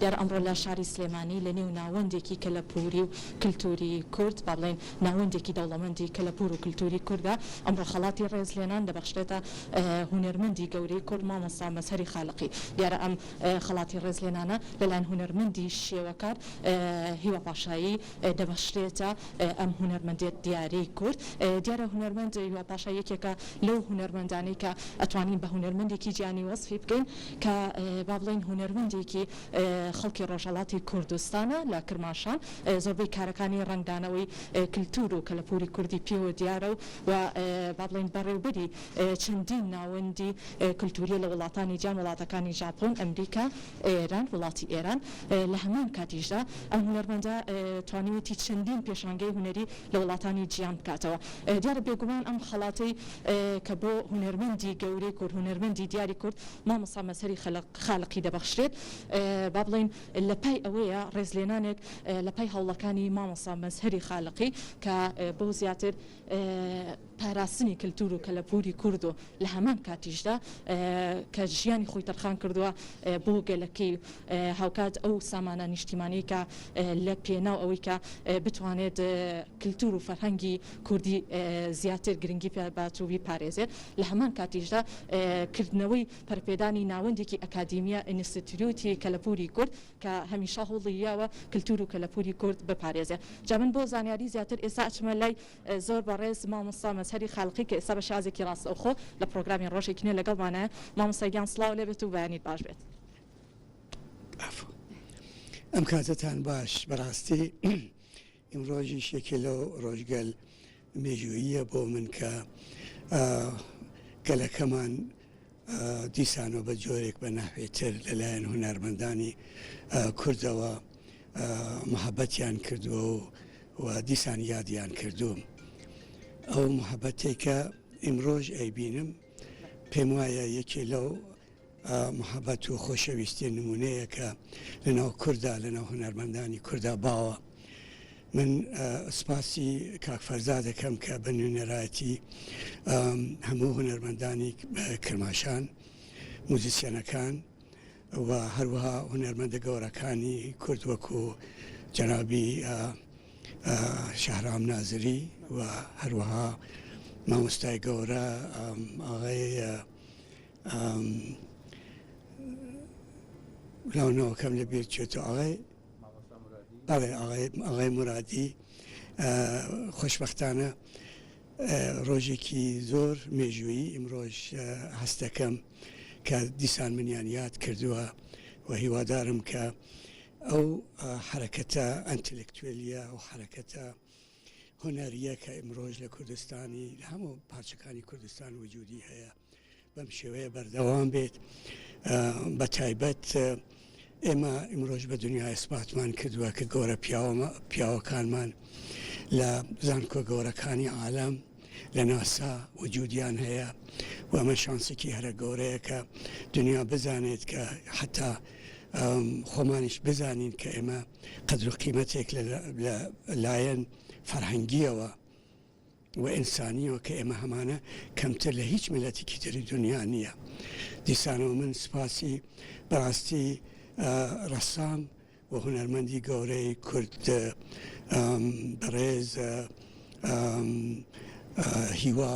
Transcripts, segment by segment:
دیارە ئەمڕۆ لە شاری سلێمانی لە نێو ناوەندێکی کەلەپووری و کلتووری کورد، با بڵێین ناوەندێکی دەوڵەمەندی کەلەپوور و کلتووری کوردە، ئەمڕۆ خەڵاتی ڕێزلێنان دەبەخشرێتە هونەرمەندی گەورەی کورد مامۆستا مەزهەری خالقی. دیارە ئەم خەڵاتی ڕێزلێنانە لەلایەن هونەرمەندی شێوەکار هیوا پاشایی، دەبەخشرێتە ئەم هونەرمەندەیە دیارەی کورد دیارە هونەرمەند هیوا پاشا یەکێکە لەو هونەرمەندانەی کە ئەتوانین بە هونەرمەندێکی جیهانی وەسفی بکەین کە با بڵێین هونەرمەندێکی خەڵکی ڕۆژهەڵاتی کوردستانە لە کرماشان زۆربەی کارەکانی ڕەنگدانەوەی کلتور و کەلەپوری کوردی پێوە دیارە و با بڵێین بەڕێوبەری چەندین ناوەندی کلتوریە لە وڵاتانی جیان وڵاتەکانی ژاپۆن ئەمریکا ئێران، وڵاتی ئێران، لە هەمان کاتیشدا ئەم هونەرمەندە توانیویەتی چەندین پێشانگەی هونەری لە وڵاتانی جیان بکاتەوە. دیارە بێگومان ئەم خەڵاتەی کە بۆ هونەرمەندی گەورەی کورد، هونەرمەندی دیاری کورد مامۆستا مەزهەری خالقی دەبەخشرێت، با بڵێین لە پای ئەوەیە ڕێزلێنانێک لە پای هەوڵەکانی مامۆستا مەزهەری خالقی کە بۆ زیاتر پاراستنی کەلتور و کەلەپوری کورد و لە هەمان کاتیشدا کە ژیانی خۆی تەرخان کردوە بۆ گەلەکەی و هاوکات ئەو سامانە نیشتیمانیەی کە لە پێناو ئەوەی کە بتوانێت کەلتور و فەرهەنگی کوردی زیاتر گرنگی پێ بات و بیپارێزێت لە هەمان کاتیشدا کردنەوەی پەرپێدانی ناوەندێکی ئەکادیمیە ئینستتیوتی کەلەپوری کورد کە هەمیشە هەوڵی یاوە کەلتور و کەلەپوری کورد بپارێزێت جا من بۆ زانیاری زیاتر ئێستا ئەچمە لای زۆر بەڕێز مامۆستا مەزهەری خالقی کە ئێستا بە شازێکی ڕاستەوخۆ لە پڕۆگرامی ڕۆژێکی نوێ لەگەڵمانە مامۆستا گیان سڵاو لێبێت و بەیانیت باش بێت. عەفو ئەم کاتەتان باش بەڕاستی ئیمڕۆژیش یەکێ لەو ڕۆژگەل مێژووییە بۆ من کە گەلەکەمان دیسانەوە بە جۆرێک بە نەحوێ تر لە لایەن هونەرمەندانی کوردەوە محەبەتیان کردووە و و دیسان یادیان کردووم ئەو محەبەتێک کە ئیمڕۆژ ئەیبینم پێم وایە یەکێ لەو محەبەت و خۆشەویستی نمونەیە کە لەناو کوردا لەناو هونەرمەندانی کوردا باوە من سپاسی کاک فەرزا دەکەم کە بە نوێنەرایەتی هەموو هونەرمەندانی کرماشان، موزیسیەنەکان و هەروەها هونەرمەندە گەورەکانی کورد وەکو جەنابی شەهرام نازری و هەروەها مامۆستای گەورە ئاغای لاونەوەکەم لە بێت چێت و ئاغای بەڵێ ئاغای مورادی خۆشبەختانە ڕۆژێکی زۆر مێژوویی ئیمڕۆژ هەست دەکەم کە دیسان منیان یاد کردووە و هیوادارم کە ئەو حرەکەتە ئەنتلکتوێلیە و حرەکەتە هونەریە کە ئیمڕۆژ لە کوردستانی لە هەموو پارچەکانی کوردستان وجودی هەیە بەم شێوەیە بەردەوام بێت بە تایبەت ئێمە ئمرۆژ بە دنیا ئەسپاتمان کردووە کە گەورە پیاوەمە پیاوەکانمان لە زانکۆ گەورەکانی عالم لە ناسا وجودیان هەیە و ئەمە شانسێکی هەرە گەورەیە کە دنیا بزانێت کە حتا خۆمانیش بزانین کە ئێمە قەدر و قیمەتێک لە لایەن فەرهەنگیەوە و ئینسانیەوە کە ئێمە هەمانە کەمتر لە هیچ میلەتیکی تری دونیا نیە دیسانەوە من سوپاسی بەڕاستی ڕەسام و هونەرمەندی گەورەی کورد بەڕێز هیوا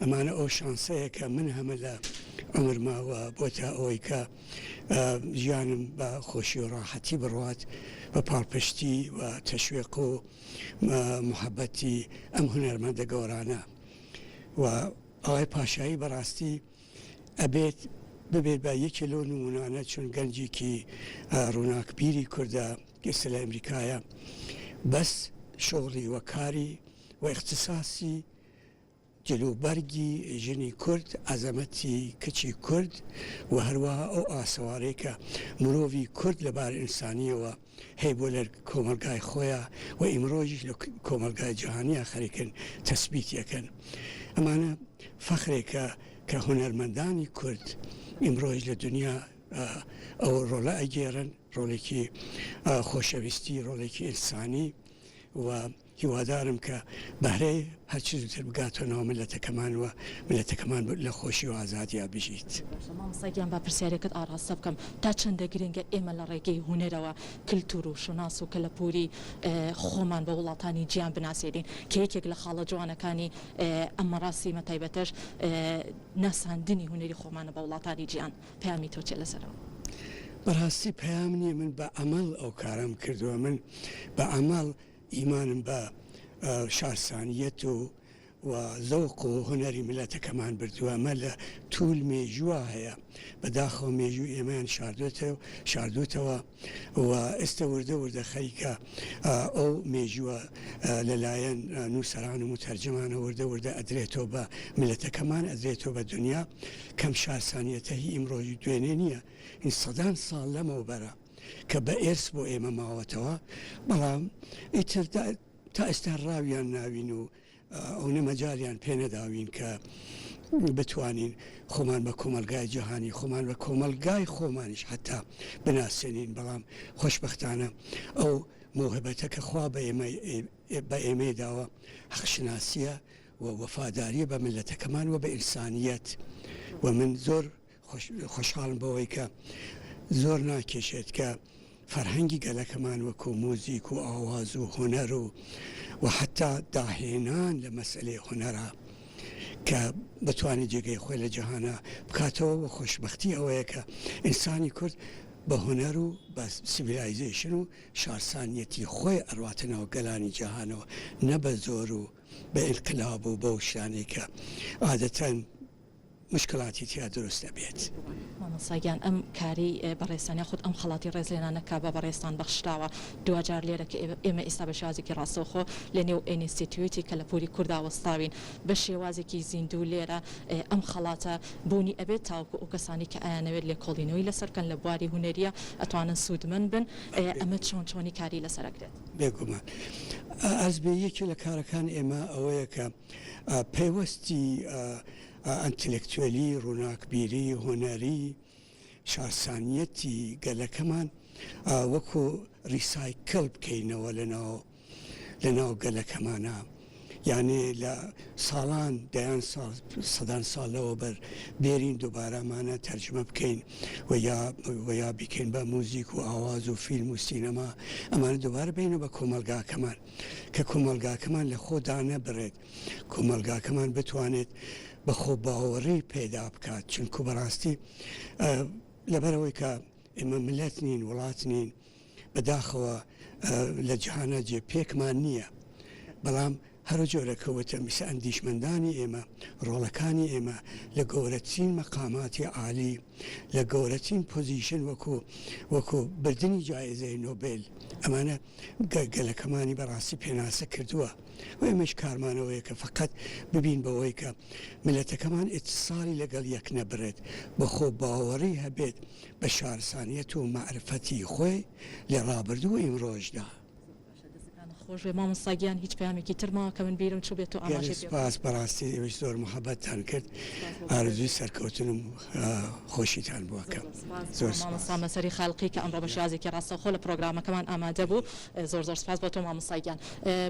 ئەمانە ئەو شانسەیە کە من هەمە لە عومرما و بۆ تا ئەوەی کە ژیانم بە خۆشی و ڕاحەتی بڕوات بە پاڵپشتی و تەشوێق و محەبەتی ئەم هونەرمەندە گەۆرانە و ئەوای پاشایی بەڕاستی ئەبێت ببێت بە یەکێ لۆ نمونانە چون گەنجێکی ڕووناکبیری کووردە ئێستا لە ئەمریکایە بەس شغلی وەکاری و اختصاصی جلوبەرگی ژنی کورد، عەزەمەتی کچی کورد و هەروەها ئەو ئاسەوارەی کە مرۆڤی کورد لە بارە ئینسانییەوە هەیە بۆ لەر کۆمەڵگای خۆیا و ئیمڕۆژیش لە کۆمەڵگای جەهانیا خەریکن تەسبیتی ئەکەن. ئەمانە فەخرێکە کە هونەرمەندانی کورد ئیمڕۆژ لە دونیا ئەو ڕۆڵە ئەگێڕن، ڕۆڵێکی خۆشەویستی، ڕۆڵێکی ئینسانی و، هیوادارم کە بەهرەی هەر چ زووتر بگاتە ناو میللەتەکەمان و میللەتەکەمان لە خۆشی و ئازادیا بژیت. باشە مامۆستا گیان با پرسیارێکت ئاڕاستە بکەم تا چەندە گرنگە ئێمە لە ڕێگەی هونەرەوە کلتور و شوناس و کەلەپوری خۆمان بە وڵاتانی جیان بناسێنین کە یەکێک لە خاڵە جوانەکانی ئەم مەراسیمە تایبەتەش ناساندنی هونەری خۆمانە بە وڵاتانی جیان پەیامی تۆ چیە لەسەر ئەوە؟ بەڕاستی پەیام نیە من بە ئەمەڵ ئەو کارەم کردوە من بە ئەمەڵ ئیمانم بە شارسانییەت و و زەوق و هونەری میللەتەکەمان بردووە، ئەمە لە توول مێژووا هەیە، بە داخەوە مێژووی ئێمەیان شاردۆتە شاردۆتەوە و ئێستە وردە وردە خەریکە ئەو مێژووە لە لایەن نووسەران و موتەرجمانەوە وردە وردە ئەدرێتۆ بە میللەتەکەمان، ئەدرێتۆ بە دنیا، کەم شارسانییەتە هی ئیمڕۆژی دوێنێ نییە، هی سەدان ساڵ لەمەوبەرە. کە بە ئێرس بۆ ئێمە ماوەتەوە بەڵام ئیتر تا ئێستا ڕاویان ناوین و ئەونە مەجالیان پێنەداوین کە بتوانین خۆمان بە کۆمەلگای جیهانی خۆمان بە کۆمەلگای خۆمانیش حتا بناسێنین بەڵام خۆشببختانە ئەو مۆهبەتە کە خوا بە ئێمە بە ئێمەی داوە حەقشناسیە و وەفاداریە بە ملەتەکەمان و بە ئینسانیت و من زۆر خۆشحاڵم بەوەی کە زۆر ناکێشێت کە فەرهەنگی گەلەکەمان وەکوو موزیک و ئاواز و هونەر و و حەتتا داهێنان لە مەسەلەی هونەرا کە بتوانێت جێگەی خۆی لە جەهانا بکاتەوە و خۆشبەختی ئەوەیە کە ئینسانی کورد بە هونەر و بە سیڤیلایزەیشن و شارسانیەتی خۆی ئەڕواتە ناو گەلانی جەهانەوە نە بە زۆر و بە ئینقلاب و بەو شتانەی کە عادەتەن مشکلاتی تیا دروست ئەبێت. مامۆستا گیان ئەم کارەی بەڕێزتان یاخود ئەم خەڵاتی ڕێزلێنانە کە بە بەڕێزتان بەخشراوە دواجار لێرە کە ئێمە ئیستا بە شێوازێکی ڕاستەوخۆ لە نێو ئێنیستیتیوتی کە لە پوری کوردا وەستاوین بە شێوازێکی زیندوو لێرە ئەم خەڵاتە بوونی ئەبێت تاوەکو ئەو کەسانەی کە ئایانەوێت لێکۆڵینەوەی لەسەر بکەن لە بواری هونەریە ئەتوانن سوودمەند بن ئەمە چۆن چۆنی کاری لەسەر ئەکرێت؟ بێگومان ئەزبێ یەکێ لە کارەکانی ئێمە ئەوەیە کە. پەیوەستی ئەنتلێکتوێلی، ڕووناکبیری، هونەری، شارسانییەتی گەلەکەمان وەکو ڕیسایکل بکەینەوە لە ناو گەلەکەمانا. یانێ لە ساڵان، دەیان ساڵ، سەدان ساڵ لەوەوبەر بێرین دووبارە مانە تەرجمە بکەین و یا و یا بیکەین بە موزیک و ئاواز و فیلم و سینەما، ئەمانە دووبارە بێنە بە کۆمەڵگاکەمان. کە کۆمەڵگاکەمان لە خۆ دانەبڕێت، کۆمەڵگاکەمان بتوانێت بە خۆ باوەڕی پەیدا بکات، چونکوو بە ڕاستی لەبەر ئەوەی کە ئێمە ملەت نین، وڵات نین، بە داخەوە لە جیهانا جێ پێکمان نییە، بەڵام هەرو جۆرە کە وتم ئیسە ئەندیشمەندانی ئێمە، ڕۆڵەکانی ئێمە لە گەورەترین مەقاماتی عالی، لە گەورەترین پۆزیشن وەکو وەکو بردنی جایزەی نۆبێل ئەمانە گە گەلەکەمانی بەڕاستی پێناسە کردووە و ئێمەش کارمان ئەوەیە کە فەقەت ببین بەوەی کە میلەتەکەمان ئیتساڵی لەگەڵ یەک نەبڕێت بە خۆ باوەڕی هەبێت بە شارسانیەت و مەعرفەتی خۆی لە ڕابردوو و ئیمڕۆشدا. دەستەکانت خۆشبێ مامۆستا گیان هیچ پەیامێکی تر ماوە کە من بیرم چوبێت تۆ ئاماژەی پێ بکەیت. گەلێ سوپاس بەڕاستی ئێوەش زۆر محەبەتتان کرد ئارەزووی سەرکەوتن و خۆشیتان بۆ ئەکەم زۆر سوپاس بۆ مامۆستا مەسەری خالقی کە ئەمڕۆ بە شێوازێکی ڕاستەوخۆ لە پڕۆگرامەکەمان ئامادە بوو زۆر زۆر سوپاس بۆ تۆ مامۆستا گیان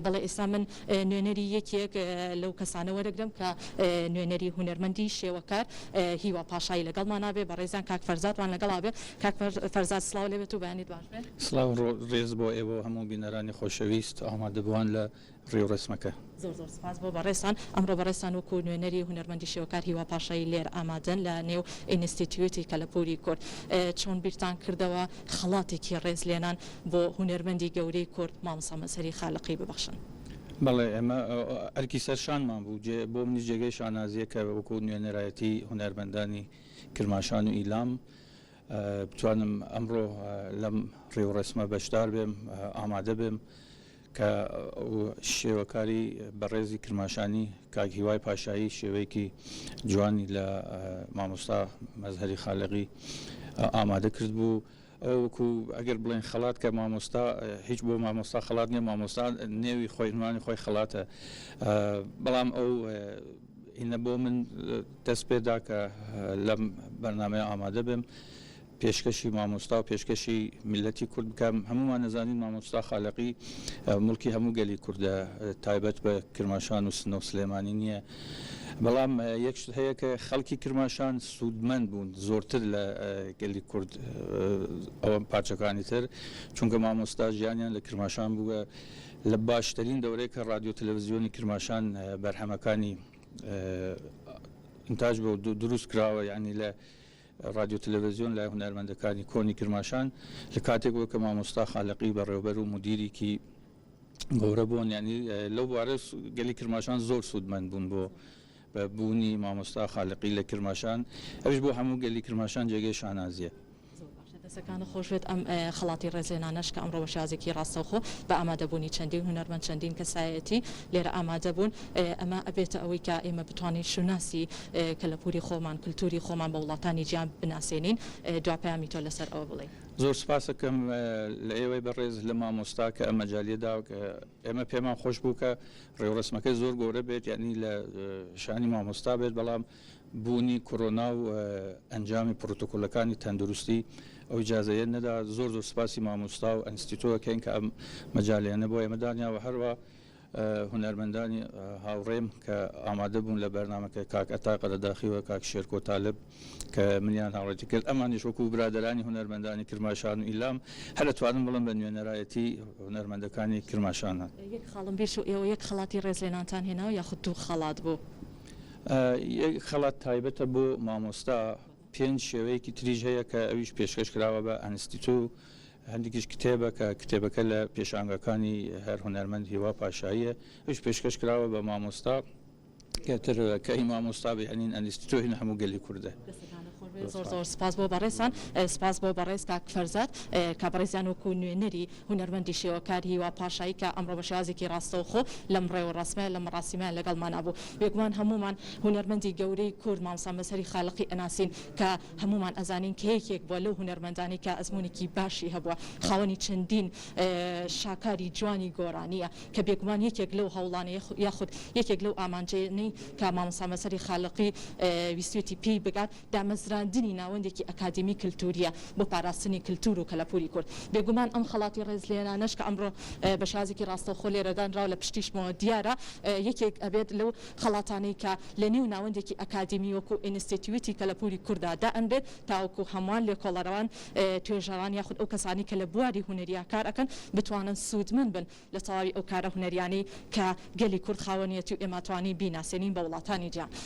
بەڵێ ئێستا من نوێنەری یەکێک لەو کەسانە وەرەگرم کە نوێنەری هونەرمەندی شێوەکار هیوا پاشایی لەگەڵمانا بێ بەڕێزیان کاک فەرزاد وان لەگەڵا بێ کاک فەرزاد سڵاو لێبێت و بەیانی سڵاو و ڕێز بۆ ئێوە و هەموو بینەرانی خۆشەویست و ئامادەبووان لە ڕێ و ڕێسمەکە. زۆر زۆر سپاس بۆ بەڕێزتان. ئەمڕۆ بەڕێزتان وەکوو نوێنەری هونەرمەندی شێوەکار هیوا پاشایی لێرە ئامادەن لە نێو ئینستیتیوتی کەلەپووری کورد. چۆن بیرتان کردەوە خەڵاتێکی ڕێز لێنان بۆ هونەرمەندی گەورەی کورد مامۆستا مەزهەری خالقی ببەخشن؟ بەڵێ ئێمە ئەرکی سەر شانمان بوو. جێ بۆ منیش جێگەی شانازییە کە وەکوو نوێنەرایەتی هونەرمەندانی کرماشان و ئیلام بتوانم ئەمڕۆ لەم ڕێوڕەسمە بەشدار بێم ئامادە بێم کە شێوەکاری بەڕێزی کرماشانی کاک هیوای پاشایی شێوەیەکی جوانی لە مامۆستا مەزهری خالقی ئامادە کرد بوو ئەوکو ئەگەر بڵێن خەڵات کە مامۆستا هیچ بۆ مامۆستا خەڵات نیە مامۆستا نێوی خۆینوانی خۆی خەڵاتە بەڵام ئەو ئینە بۆ من دەست پێ دا کە لەم بەرنامەیە ئامادە بێم پێشکەشی مامۆستا و پێشکەشی میلەتی کورد بکەم هەمومان نەزانین مامۆستا خالەقی مڵکی هەموو گەلی کوردە تایبەت بە کرماشان و سنە و سلێمانی نییە بەڵام یەکش هەیە کە خەڵکی کرماشان سوودمەند بوون زۆرتر لە گەلی کورد ئەوەم پارچەکانی تر چونکە مامۆستا ژیانیان لە کرماشان بووە لە باشترین دەورەی کە ڕادیۆ تەلەڤزیۆنی کرماشان بەرهەمەکانی ئینتاج بۆ دروست کراوە یانی لە ڕادیۆ تەلەڤزیۆن لای هونەرمەندەکانی کۆنی کرماشان لە کاتێک بوو کە مامۆستا خالقی بەڕێوبەر و مدیریکی گەورە بوون یانی لەو بوارەش گەلی کرماشان زۆر سوودمەند بوون بۆ بە بوونی مامۆستا خالقی لە کرماشان ئەویش بۆ هەموو گەلی کرماشان جێگەی شانازیە. زۆر باشە دەسەکانت خۆشبێت ئەم خەڵاتی ڕێزلێنانەش کە ئەمڕۆ بە شێوازێکی ڕاستەوخۆ بە ئامادەبوونی چەندین هونەرمەند چەندین کەسایەتی لێرە ئامادەبوون ئەمە ئەبێتە ئەوەی کە ئێمە بتوانین شوناسی کەلەپوری خۆمان کلتوری خۆمان بە وڵاتانی جیان بناسێنین دوا پەیامی تۆ لەسەر ئەوە بڵێی. زۆر سپاست ئەکەم لە ئێوەی بەڕێز لە مامۆستا کە ئەم مەجالیە داوە کە ئێمە پێمان خۆش بوو کە ڕێوڕەسمەکە زۆر گەورە بێت یعنی لە شانی مامۆستا بێت بەڵام بوونی کۆرۆنا و ئەنجامی پرۆتۆکۆلەکانی تەندروستی ئەو جازەیە نەدا زۆر زۆر سپاسی مامۆستا و ئەنستیتۆکەین کە ئەم مەجاالێنە بۆ ئێمە دانیاوە هەروە هونەرمەندانی هاوڕێم کە ئامادە بوون لە بەرنمەکە کاک ئەتا قەرەداخیوە کاک شێرکۆ تالب کە منیان هاوڕێتی کرد ئەمانیش وەکو برادەرانی هونەرمەندانی کرماشان و ئیلام هەر ئەتوانم بڵم بە نوێنەرایەتی هونەرمەندەکانی کرماشانە. یەک خاڵم بیر چوو ئێوە یەک خەڵاتی ڕێزلێنانتان هێناوە یاخود دوو خەڵات بوو؟ یەک خەڵات تایبەتە بۆ مامۆستا، پێنج شێوەیەکی تریش هەیە کە ئەویش پێشکەش کراوە بە ئەنستیتو، هەندێکیش کتێبە کە کتێبەکە لە پێشانگاکانی هەر هونەرمەند هیوا پاشاییە ئەویش پێشکەش کراوە بە مامۆستا. کەتر کەی مامۆستا بی ئەنین ئەنیست تۆ هین هەموو گەلی کوردە. دەستەکانت خۆش بێت زۆر زۆر سپاس بۆ بەڕێزتان سپاس بۆ بەڕێز کاک فەرزاد کە بەڕێزیان وەکو نوێنەری هونەرمەندی شێوەکار هیوا پاشایی کە ئەمڕۆ بە شێوازێکی ڕاستەوخۆ لەم ڕێوڕەسمە لەم مەڕاسیمەیان لەگەڵمانا بوو بێگومان هەموومان هونەرمەندی گەورەی کورد مامۆستا مەزهەری خالقی ئەناسین کە هەموومان ئەزانین کە یەکێک بووە لەو هونەرمەندانەی کە ئەزموونێکی باشی هەبووە خاوەنی چەندین شاکاری جوانی گۆرانییە کە بێگومان یەکێک لەو هەوڵانەیە یاخود یەکێک لەو ئامانجەیەنەی کە مامۆستا مەزهەری خالقی ویستوێتی پێی بگات دامەزراندنی ناوەندێکی ئەکادیمی کلتورییە بۆ پاراستنی کلتور و کەلەپوری کورد بێگومان ئەم خەڵاتی ڕێزلێنانەش کە ئەمڕۆ بە شێوازێکی ڕاستەوخۆ لێرە دانراوە لە پشتیشمەوە دیارە یەکێک ئەبێت لەو خەڵاتانەی کە لە نێو ناوەندێکی ئەکادیمی وەکو ئینستێتیوتی کەلەپوری کوردا دائەنرێت تاوەکو هەموان لێکۆڵەرەوان توێژەران یاخود ئەو کەسانەی کە لە بواری هونەریا کار ئەکەن بتوانن سوودمەند بن لە تەواوی ئەو کارە هونەریانەی کە گەلی کورد خاوەنیەتی و ئێماتوانین بیناسێنین بە وڵاتانی جیهان.